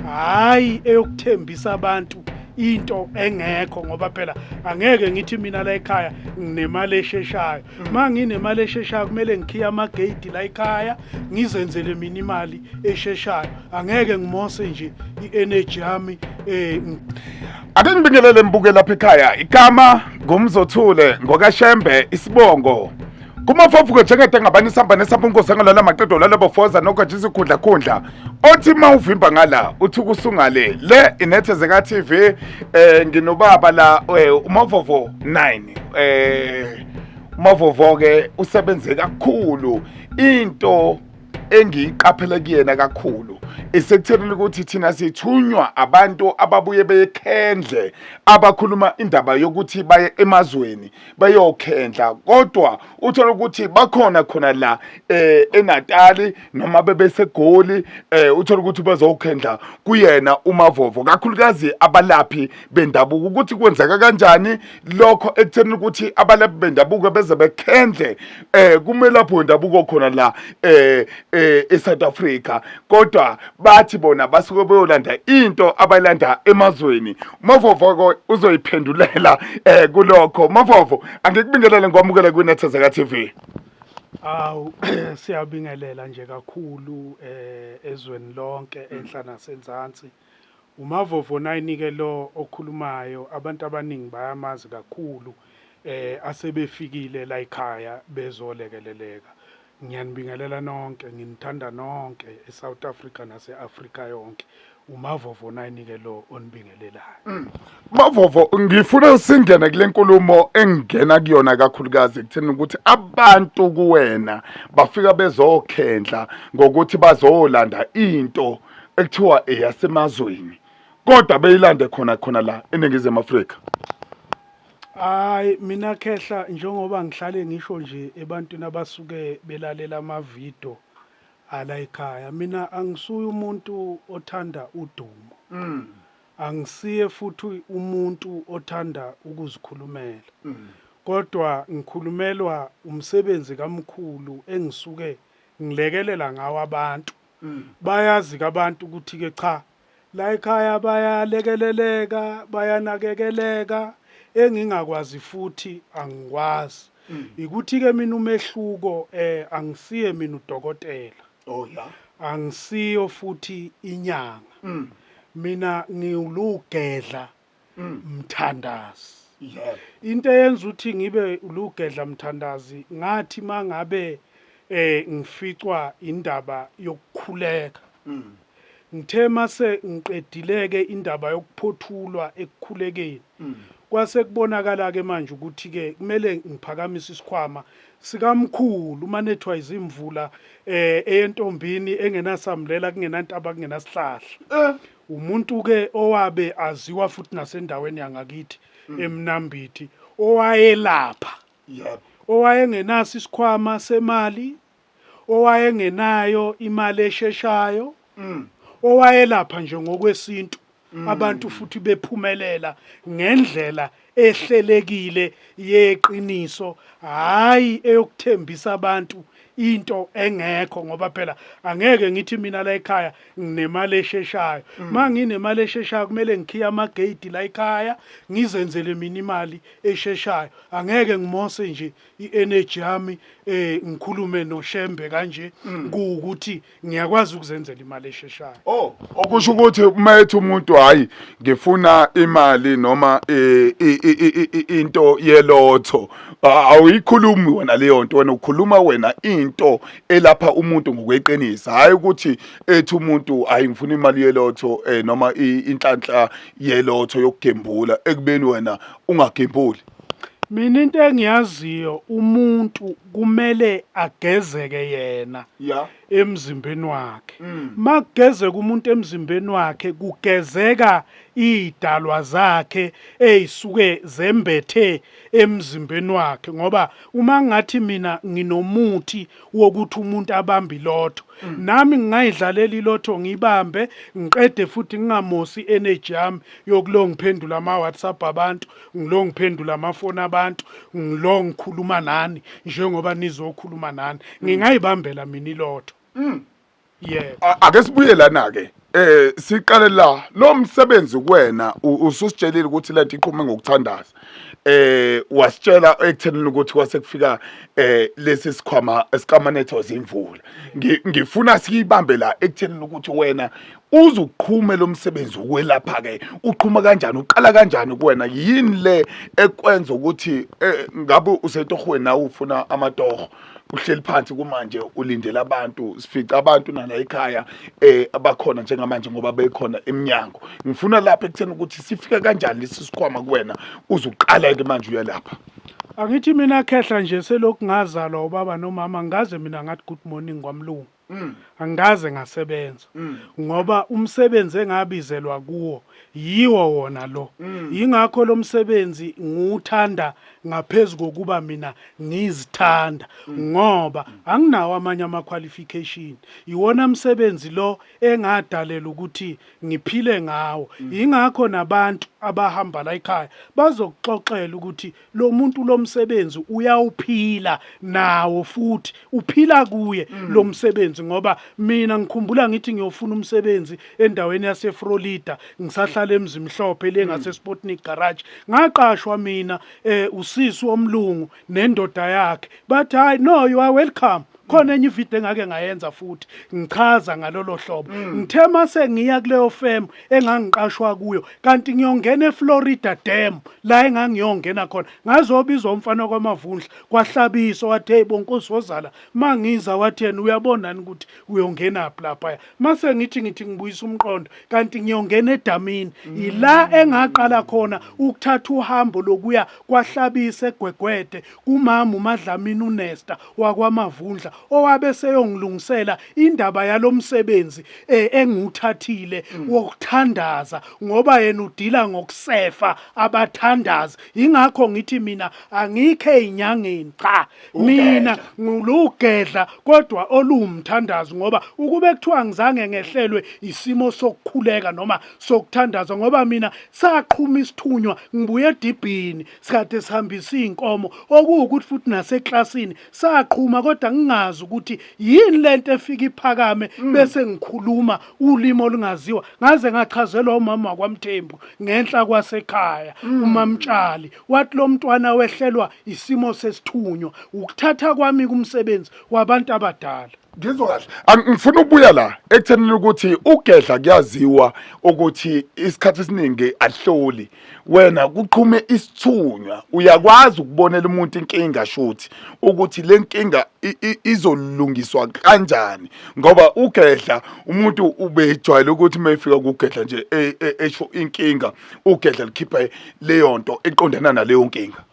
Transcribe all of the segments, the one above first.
hayi eyokuthembisa abantu into engekho ngoba phela angeke ngithi mina la ekhaya nginemali esheshayo mm. ma nginemali esheshayo kumele ngikhiye amageyidi la ekhaya ngizenzele mina imali esheshayo angeke ngimose nje i-energy yami um ake ngibingelele mbuke lapha ekhaya igama ngumzothule ngokashembe isibongo kumafafuko njengede ngabani isihamba nesihamba unkosi angalala maqedo lala bofoza nogatsha isikhundla khundla othi uma uvimba ngala uthi kusungale le inethezeka tv eh nginobaba la eh, umavovo 9 eh umavovo ke usebenze kakhulu into engiyiqaphele kuyena kakhulu isekuthelile ukuthi thina sithunywa abantu ababuye bekhendle abakhuluma indaba yokuthi baye emazweni beyokhendla kodwa uthola ukuthi bakhona khona la eh eNatali noma bebesegoli eh uthola ukuthi bezokhendla kuyena umavovo kakhulukazi abalaphi bendabuko ukuthi kwenzeka kanjani lokho ekutheni ukuthi abalaphi bendabuko beze bekhendle eh kumelaphi wendabuko khona la eh, eh eSouth Africa kodwa bathi bona basuke beyolanda into abayilanda emazweni Mavovoko uzoyiphendulela eh kulokho Mavovo angikubingelele ngokwamukela kwinethezeka TV Awu siyabingelela nje kakhulu eh ezweni lonke enhla nasenzansi uMavovo nayinike lo okhulumayo abantu abaningi bayamazi kakhulu eh asebefikile la ekhaya bezolekeleleka Ngiyanibingelela nonke, nginithanda nonke eSouth Africa nase-Afrika yonke. UMavovo nayinike lo onibingelelayo. Mm. Mavovo ngifuna singene kule nkulumo engingena kuyona kakhulukazi ekutheni ukuthi abantu kuwena bafika bezokhendla ngokuthi bazolanda into ekuthiwa eyasemazweni kodwa beyilande khona khona la eNingizimu Afrika. Hayi mina khehla njengoba ngihlale ngisho nje ebantwini abasuke belalela amavidiyo ala ekhaya mina angisuye umuntu othanda udumo mm. angisiye futhi umuntu othanda ukuzikhulumela mm. kodwa ngikhulumelwa umsebenzi kamkhulu engisuke ngilekelela ngawo abantu mm. bayazi kabantu ukuthi-ke cha La ekhaya bayalekeleleka, bayanakekeleka, engingakwazi futhi angikwazi. Mm. Ikuthi-ke mina umehluko eh angisiye mina udokotela. Oh ya. Angisiyo futhi inyanga. Mm. Mina ngiwulugedla Mm. mthandazi yebo into eyenza ukuthi ngibe lugedla mthandazi ngathi mangabe eh ngificwa indaba yokukhuleka Mm. ngithe mase ngiqedileke indaba yokuphothulwa ekukhulekeni Mm. kwase kubonakala ke manje ukuthi ke kumele ngiphakamise isikhwama sikamkhulu uma nethwa izimvula eh eyentombini engenasamlela kungenantaba kungenasihlahla Eh. Umuntu-ke owabe aziwa futhi nasendaweni yangakithi mm. eMnambithi owayelapha yep. owayengenaso isikhwama semali owayengenayo imali esheshayo mm. owayelapha nje ngokwesintu mm. abantu futhi bephumelela ngendlela ehlelekile yeqiniso hayi eyokuthembisa abantu into engekho ngoba phela angeke ngithi mina la ekhaya nginemali esheshayo mm. ma nginemali esheshayo kumele ngikhiye amageyidi la ekhaya ngizenzele mina imali esheshayo angeke ngimose nje i-energy yami um ngikhulume noshembe kanje mm. kuwukuthi ngiyakwazi ukuzenzela imali esheshayo oh okusho ukuthi uma ethi umuntu hayi ngifuna imali noma eh, i- i- i- i- into yelotho a- awuyikhulumi wena leyo nto wena ukhuluma wena into elapha umuntu ngokweqiniso hhayi ukuthi ethi umuntu hayi ngifuna imali yelotho eh, noma i- inhlanhla yelotho yokugembula ekubeni wena ungagembuli mina into engiyaziyo umuntu kumele agezeke yena yeah. emzimbeni wakhe mm. makugezeka umuntu emzimbeni wakhe kugezeka idalwa zakhe ezisuke zembethe emzimbeni wakhe ngoba uma ngathi mina nginomuthi wokuthi umuntu abambe ilotho mm. nami ngingayidlalela ilotho ngibambe ngiqede futhi ngingamosi energy yami yokulongiphendula ama WhatsApp abantu ngilo ngiphendula amafoni abantu ngilo ngikhuluma nani njengoba nizokhuluma nani ngingayibambela mina ilotho mm. yebo A- ake sibuye lana ke eh siqale la lo msebenzi kuwena u- ususitshelile ukuthi lento iqhume ngokuthandaza eh wasitshela ekuthenini ukuthi kwase kufika eh lesi sikhwama esikamanetho zimvula Ngi- ngifuna siyibambe la ekuthenini ukuthi wena Uze uqhume lo msebenzi wokwelapha-ke uqhuma kanjani uqala kanjani kuwena yini le ekwenza ukuthi eh, ngabe usetohweni nawe ufuna amatoho uhleli phansi kumanje ulindele abantu sifica abantu nala ekhaya eh abakhona njengamanje ngoba bekhona eminyango ngifuna lapha ekutheni ukuthi sifika kanjani lesi sikhwama kuwena uzuqala ke manje uyalapha Angithi mina khehla nje selokhu ngazalwa ubaba nomama ngaze mina ngathi good morning kwamlungu. Mm. angikaze ngasebenza mm. ngoba umsebenzi engabizelwa kuwo yiwo wona lo mm. yingakho lo msebenzi ngiwuthanda ngaphezu kokuba mina ngizithanda ngoba anginawo amanye ama-qualification yiwona msebenzi lo engadalela ukuthi ngiphile ngawo yingakho nabantu abahamba la ekhaya bazokuxoxela ukuthi lo muntu lo msebenzi uyawuphila nawo futhi uphila kuye mm. lo msebenzi ngoba mina ngikhumbula ngithi ngiyofuna umsebenzi endaweni yaseFrolida ngisahlala mm. emzimhlophe le mm. ngase Sputnik garage ngaqashwa mina eh usisi omlungu nendoda yakhe bathi hayi no you are welcome khona enye ivideo engake ngayenza futhi ngichaza ngalolo hlobo mm. ngithe mase ngiya kuleyo firm engangiqashwa kuyo kanti ngiyongena eFlorida Dam la engangiyongena khona ngazobizwa umfana kwamavundla kwahlabisa wathi hey bonkosi wozala mangiza wathi yena uyabona ukuthi uyongena lapha mase ngithi ngithi ngibuyisa umqondo kanti ngiyongena edamini yila mm. engaqala khona ukuthatha uhambo lokuya kwahlabisa egwegwede kumama uMadlamini uNesta wakwaMavundla owabe seyongilungisela indaba yalomsebenzi eh, engiwuthathile mm. wokuthandaza ngoba yena udila ngokusefa abathandazi ingakho ngithi mina angikhe inyangeni cha mina ngulugedla kodwa oluwumthandazi ngoba ukube kuthiwa ngizange ngehlelwe isimo sokukhuleka noma sokuthandaza ngoba mina saqhuma isithunywa ngibuye edibhini sikade sihambisa izinkomo okuwukuthi futhi naseklasini saqhuma kodwa ngingazi ukuthi yini lento efika iphakame mm. bese ngikhuluma ulimi olungaziwa ngaze ngachazelwa umama wakwaMthembu ngenhla kwasekhaya mm. umamtshali wathi lo mntwana wehlelwa isimo sesithunywa ukuthatha kwami kumsebenzi wabantu abadala ngizwa kahle angifuna ukubuya la ekuthenini ukuthi ugedla kuyaziwa ukuthi isikhathi esiningi ahloli wena kuqhume isithunywa uyakwazi ukubonela umuntu inkinga shuthi ukuthi le nkinga izolungiswa kanjani ngoba ugedla umuntu ubejwayele ukuthi uma efika kugedla nje e, e, esho inkinga ugedla likhipha leyo nto eqondana naleyo nkinga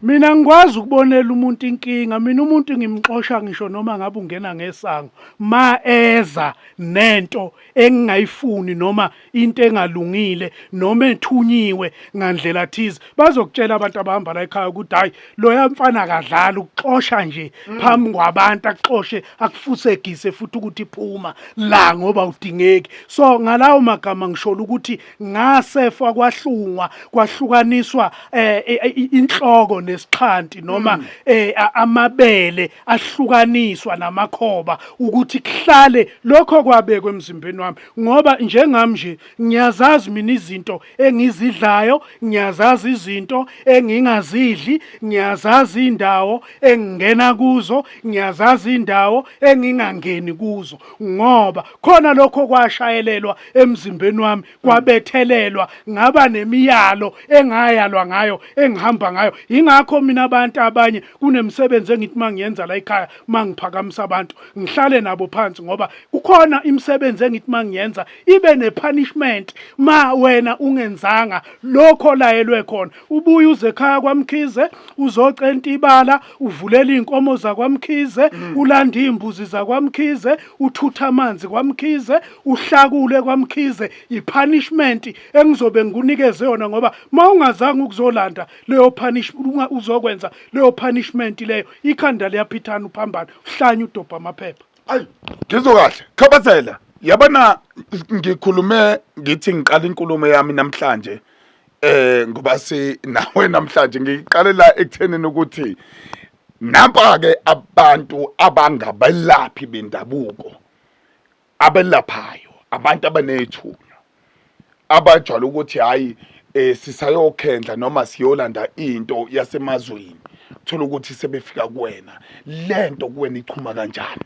mina ngikwazi ukubonela umuntu inkinga mina umuntu ngimxosha ngisho noma ngabe ungena ngesango ma eza nento engingayifuni noma into engalungile noma ethunyiwe ngandlela thize bazokutshela abantu abahamba la ekhaya ukuthi hayi loya mfana akadlali ukuxosha nje mm. phambi kwabantu akuxoshe akufusegise futhi ukuthi phuma la ngoba udingeki so ngalawo magama ngishola ukuthi ngasefa kwahlungwa kwahlukaniswa eh, eh, eh inhloko nesixhanti noma mm. eh, amabele ahlukaniswa namakhoba ukuthi kuhlale lokho kwabekwe emzimbeni wami ngoba njengami nje ngiyazazi mina izinto engizidlayo ngiyazazi izinto engingazidli ngiyazazi indawo engingena kuzo ngiyazazi indawo engingangeni kuzo ngoba khona lokho kwashayelelwa emzimbeni wami kwabethelelwa ngaba nemiyalo engayalwa ngayo engihamba ngayo ingakho mina abantu abanye kunemsebenzi engithi mangiyenza la ekhaya mangiphakamisa abantu ngihlale nabo phansi ngoba kukhona imisebenzi engithi mangiyenza ibe nepunishment ma wena ungenzanga lokho layelwe khona ubuye uze ekhaya kwamkhize uzocenta ibala uvulela inkomo zakwamkhize mm. ulanda imbuzi zakwamkhize uthutha amanzi kwamkhize uhlakule kwamkhize ipunishment engizobe ngikunikeze yona ngoba mawungazange ukuzolanda leyo punishment uzokwenza leyo punishment leyo ikhanda liyaphithana uphambana uhlanye udobha amaphepha ayi ngizwe kahle khabazela yabona ngikhulume ngithi ngiqala inkulumo yami namhlanje eh ngoba si nawe namhlanje ngiqalela ekuthenini ukuthi nampa ke abantu abangabelaphi bendabuko abelaphayo abantu abanethunya abajwayele ukuthi hhayi um sisayokhendla noma siyolanda into yasemazweni thola ukuthi sebefika kuwena le nto kuwena ichuma kanjani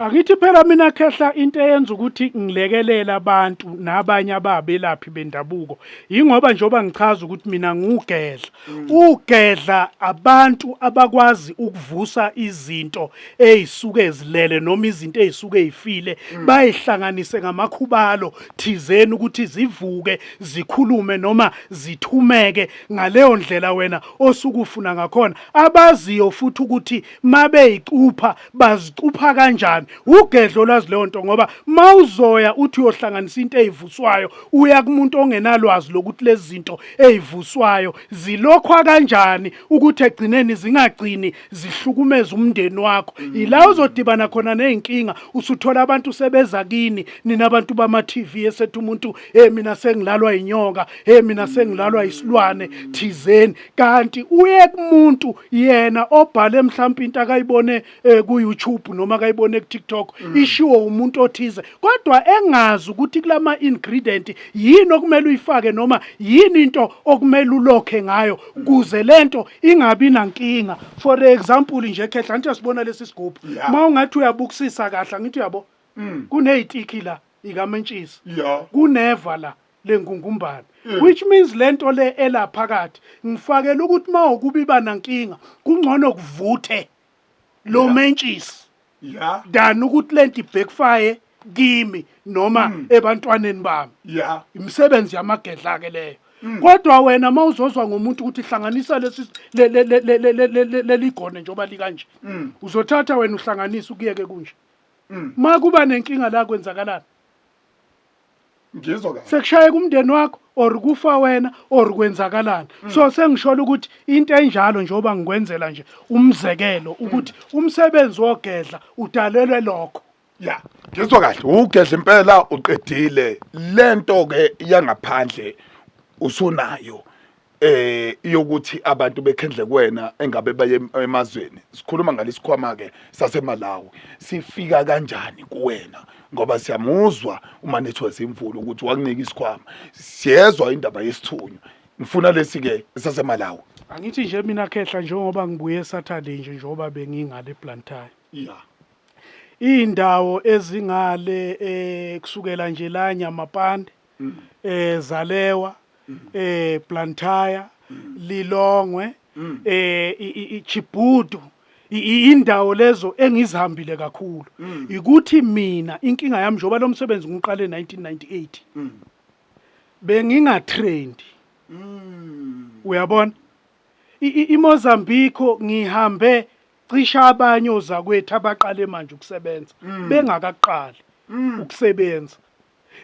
Angithi phela mina khehla into eyenza ukuthi ngilekelele abantu nabanye ababelaphi bendabuko yingoba njengoba ngichaza ukuthi mina ngiwugedla Ugedla abantu abakwazi ukuvusa izinto ezisuke ezilele noma izinto ezisuke ezifile bayihlanganise ngamakhubalo thizeni ukuthi zivuke zikhulume noma zithumeke ngaleyo ndlela wena osukufuna ngakhona abaziyo futhi ukuthi mabeyicupha bazicupha kanjani ugedlo olwazi leyo nto ngoba mawuzoya uthi uyohlanganisa into eyivuswayo uya kumuntu ongenalwazi lokuthi lezi zinto eyivuswayo zilokhwa kanjani ukuthi egcineni zingagcini zihlukumeza umndeni wakho mm. yila uzodibana khona nezinkinga usuthola abantu sebeza kini nina abantu bama TV esethu umuntu hey mina sengilalwa inyoka hey mina sengilalwa isilwane thizeni kanti uye kumuntu yena obhale mhlawumbe into akayibone eh, ku YouTube noma akayibone ku TikTok mm. ishiwo umuntu othize kodwa engazi ukuthi kulama ingredient yini okumele uyifake noma yini into okumele ulokhe ngayo kuze lento ingabi nankinga for example nje khehla nje sibona lesi sigubhu uma ungathi uyabukusisa kahle ngithi uyabo mm. kunezitiki la ikamentshisi kuneva la lengungumbane mm. which means lento le elaphakathi ngifakela ukuthi mawukubiba nankinga kungcono kuvuthe lo mentshisi yeah dan ukuthi lento ibhekfire kimi noma mm. ebantwaneni bami yeah imisebenzi yamagedla ke leyo mm. kodwa wena mawuzozwa ngomuntu ukuthi hlanganisa lesi leligone njoba likanje mm. uzothatha wena uhlanganisa ukuyeke kunje makuba nenkinga la kwenzakalana ngizwa kahle sekushayeka umndeni wakho or kufa wena or kwenzakalani mm. so sengishola ukuthi into enjalo njengoba ngikwenzela nje umzekelo mm. ukuthi umsebenzi wogedla udalelwe lokho ya ngizwa kahle ugedla impela uqedile lento ke yangaphandle usunayo eh yokuthi abantu bekhendle kuwena engabe baye emazweni sikhuluma ngalesikhwama ke saseMalawi sifika kanjani kuwena ngoba siyamuzwa uma nethwa zimvula ukuthi wakunika isikhwama siyezwa indaba yesithunywa ngifuna lesi ke saseMalawi angithi nje mina khehla njengoba ngibuye Saturday nje njengoba bengingale Blantyre yeah indawo ezingale eh kusukela nje la Nyamapande eh Zalewa eh Blantyre Lilongwe eh i- i- i- Chibudu I- i- indawo lezo engizihambile kakhulu ukuthi mina inkinga yami njengoba lo msebenzi ngiqale 1998 bengingatrendi uyabona I- i- iMozambique ngihambe cisha abanye ozakwethu abaqale manje ukusebenza bengakaqali ukusebenza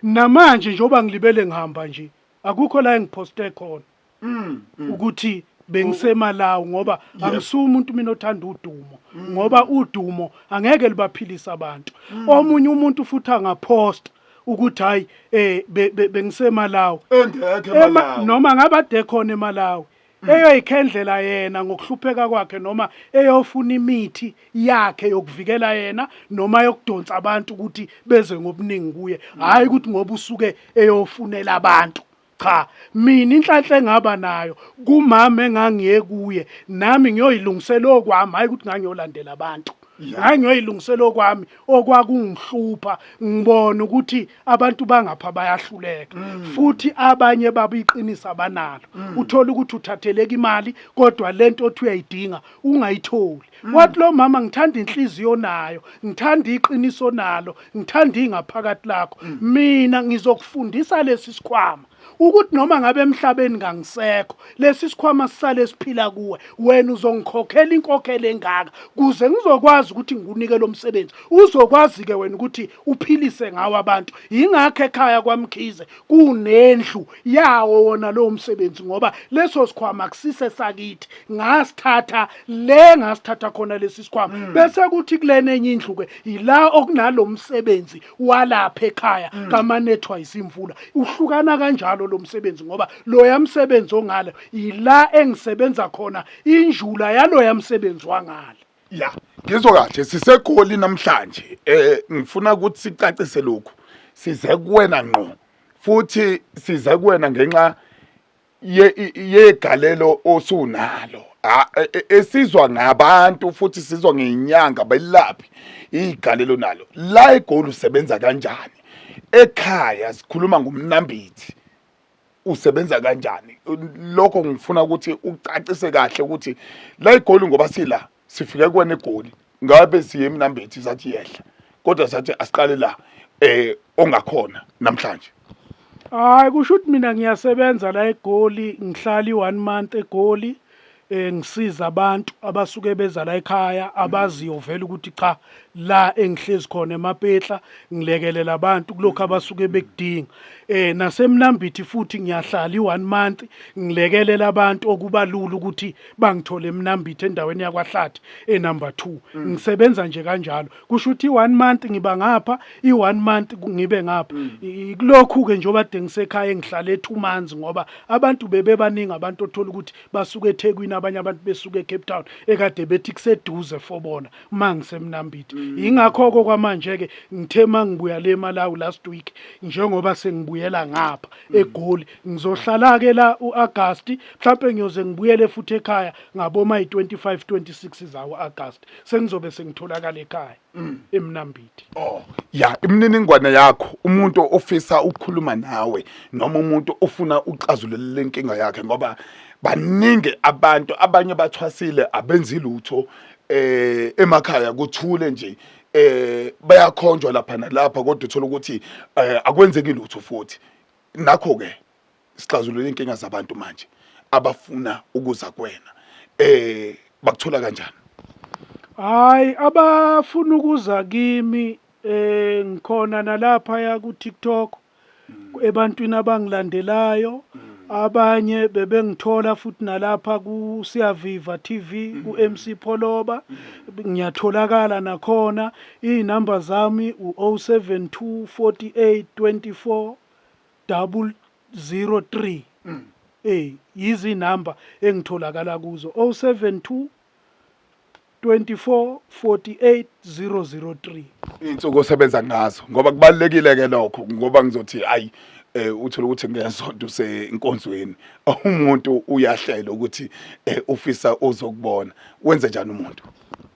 Namanje njengoba ngilibele ngihamba nje akukho la engiphoste khona Mm. mm. ukuthi bengisemalawi ngoba Yebo. angisuye umuntu mina othanda udumo ngoba udumo angeke libaphilisa abantu omunye umuntu futhi angaphosta ukuthi hayi eh be- be- bengisemalawi Engekho Ema- emalawi noma ngabe ade khona emalawi eyoyikhendlela yena ngokuhlupheka kwakhe noma eyofuna imithi yakhe yokuvikela yena noma yokudonsa abantu ukuthi beze ngobuningi kuye hhayi ukuthi ngoba usuke eyofunela abantu cha mina inhlanhla engaba nayo kumama engangiye kuye nami ngiyoyilungisela okwami hhayi ukuthi ngangiyolandela abantu hayi ngiyoyilungisela okwami okwakungihlupha ngibona ukuthi abantu bangapha bayahluleka mm. futhi abanye baba iqiniso abanalo mm. uthola ukuthi uthatheleka imali kodwa lento othi uyayidinga ungayitholi mm. wathi lo mama ngithanda inhliziyo nayo ngithanda iqiniso nalo ngithanda ingaphakathi lakho mina ngizokufundisa lesi sikhwama ukuthi noma ngabe emhlabeni ngangisekho lesi sikhwama sisale siphila kuwe wena uzongikhokhela inkokhelo engaka kuze ngizokwazi ukuthi ngikunike lo msebenzi uzokwazi ke wena ukuthi uphilise ngawo abantu yingakho ekhaya kwamkhize kunendlu yawo wona lowo msebenzi ngoba leso sikhwama kusise sakithi ngasithatha le ngasithatha khona lesi sikhwama hmm. bese kuthi kulena enye indlu ke yila okunalo msebenzi walapha ekhaya mm. kamanethwa yisimvula uhlukana kanjalo lo msebenzi ngoba loya msebenzi ongale yila engisebenza khona injula yaloya msebenzi wangale ya ngizwa kahle sisegoli namhlanje eh ngifuna ukuthi sicacise lokhu size kuwena ngqo futhi size kuwena ngenxa yegalelo osunalo e, e, esizwa ngabantu futhi sizwa ngenyanga belaphi igalelo nalo la egoli usebenza kanjani ekhaya sikhuluma ngomnambithi usebenza kanjani lokho ngifuna ukuthi ucacise kahle ukuthi la igoli ngoba sila sifike kuwena egoli ngabe siye emnambethi sathi yehla kodwa sathi asiqale la eh ongakhona namhlanje hayi kusho ukuthi mina ngiyasebenza la egoli ngihlali one month egoli eh ngisiza abantu abasuke beza la ekhaya abaziyo vele ukuthi cha la engihlezi khona emapetla ngilekelela abantu kulokho abasuke bekudinga eh nasemnambithi futhi ngiyahlala i-one month ngilekelela abantu okubalula ukuthi bangithole emnambithe endaweni yakwahlathi enumber 2 mm. ngisebenza nje kanjalo kusho ukuthi i1 month ngiba ngapha i1 month ngibe ngapha mm. kulokhu ke njengoba dengisekhaya engihlale e2 months ngoba abantu bebebaningi abantu othola ukuthi basuka eThekwini abanye abantu besuka eCape Town ekade bethi kuseduze fobona mangisemnambithe mm. ingakho ke kwamanje ke ngithe mangibuya le eMalawi last week njengoba sengibuyela ngapha eGoli Ngizohlala-ke la u-Agasti, mhlampe ngiyoze ngibuyele futhi ekhaya ngaboma yi-25 26 zawo-Agasti. Sengizobe sengitholakala ekhaya mm, eMnambithi. Oh, ya imininingwane yakho umuntu ofisa ukukhuluma nawe noma umuntu ofuna uxazulula le nkinga yakhe ngoba baningi abantu abanye bathwasile abenzi lutho eh emakhaya kuthule nje eh bayakhonjwa lapha nalapha kodwa uthola ukuthi eh, akwenzeki lutho futhi nakho ke sixazulule inkinga zabantu manje abafuna ukuza kwena eh bakuthola kanjani hayi abafuna ukuza kimi eh ngikhona nalapha ya ku TikTok ebantwini abangilandelayo abanye bebengithola futhi nalapha ku Siyaviva TV ku MC Pholoba ngiyatholakala nakhona Izinumber zami u 0724824003 eh yizinumber engitholakala kuzo 072 24 48 003 insuku osebenza ngazo ngoba kubalekile ke lokho ngoba ngizothi ayi eh uthola ukuthi ngesonto usenkonzweni umuntu uyahlela ukuthi eh, ufisa uzokubona wenze njani umuntu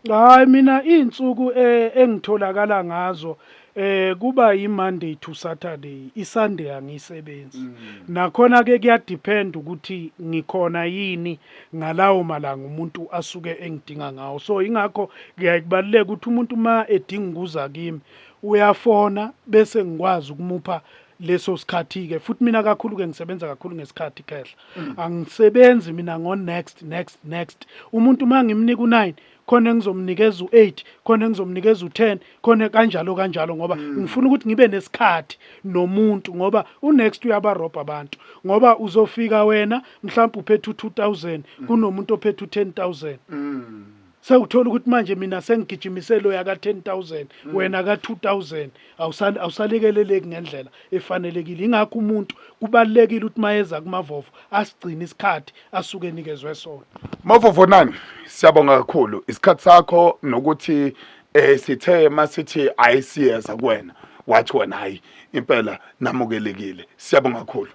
Hayi mina iy'nsuku eh, engitholakala ngazo eh kuba yi-Monday to Saturday, i-Sunday angiyisebenzi. Mm. Nakhona ke kuyadepend ukuthi ngikhona yini ngalawo malanga umuntu asuke engidinga ngawo. So ingakho kuyaye kubaluleke ukuthi umuntu uma edinga ukuza kimi uyafona bese ngikwazi ukumupha leso sikhathi-ke futhi mina kakhulu-ke ngisebenza kakhulu ngesikhathi khehla mm. angisebenzi mina ngo-next next next umuntu uma ngimnika u-nine khona engizomnikeza u-eight khona engizomnikeza u-ten khona kanjalo kanjalo ngoba mm. ngifuna ukuthi ngibe nesikhathi nomuntu ngoba u-next uyabarobha abantu ngoba uzofika wena mhlawumbe uphethe u-two thousand mm. kunomuntu ophethe u-ten thousand sewuthola ukuthi manje mina sengigijimise lo yaka 10000 mm. wena ka 2000 awusale awusalekeleleki ngendlela efanelekile ingakho umuntu kubalekile ukuthi mayeza kumavovo asigcina isikhathi asuke nikezwe sona mavovo nani siyabonga kakhulu isikhathi sakho nokuthi eh sithe masithi ayisiyeza kuwena wathi wena hayi impela namukelekile siyabonga kakhulu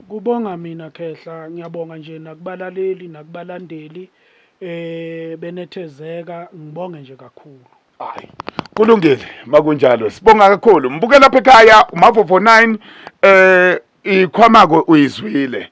kubonga mina khehla ngiyabonga nje nakubalaleli nakubalandeli eh benethezeka ngibonge nje kakhulu hayi kulungile makunjalo sibonga kakhulu mbuke lapha ekhaya umavofo 9 eh ikhwamako uyizwile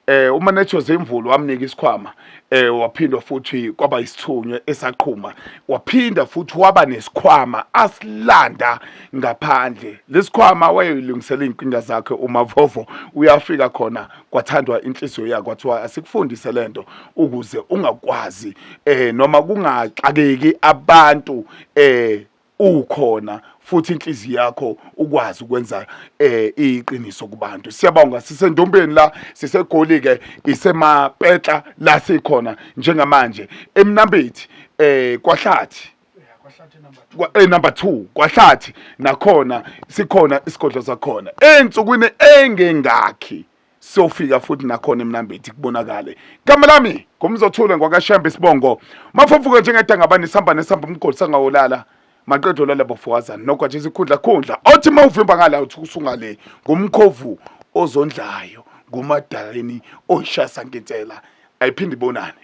eh uma netshoze imvulu wamnika isikhwama eh waphinda futhi kwaba isithunywe esaqhuma waphinda futhi waba nesikhwama asilanda ngaphandle lesikhwama wayelungisela izinkinga zakhe uma vovo uyafika khona kwathandwa inhliziyo yakhe kwathiwa asikufundise lento ukuze ungakwazi eh noma kungaxakeki abantu eh ukhona futhi inhliziyo yakho ukwazi ukwenza eh iqiniso kubantu siyabonga sisendombeni la sisegoli ke isemapetla la sikhona njengamanje emnambethi eh kwahlathi eh number 2 kwahlathi nakhona sikhona isigodlo sakhona ensukwini engengakhi siyofika futhi nakhona emnambethi kubonakale igama lami ngumzothule ngwakashembe isibongo mafofuke njengedangabani sihamba nesihamba umgodi sangawolala maqeda olala bofokazana nokho nje sikhundla khundla othi uma uvimba ngala uthi usungale ngumkhovu ozondlayo ngumadaleni oyishaya sankintshela ayiphinde ibonane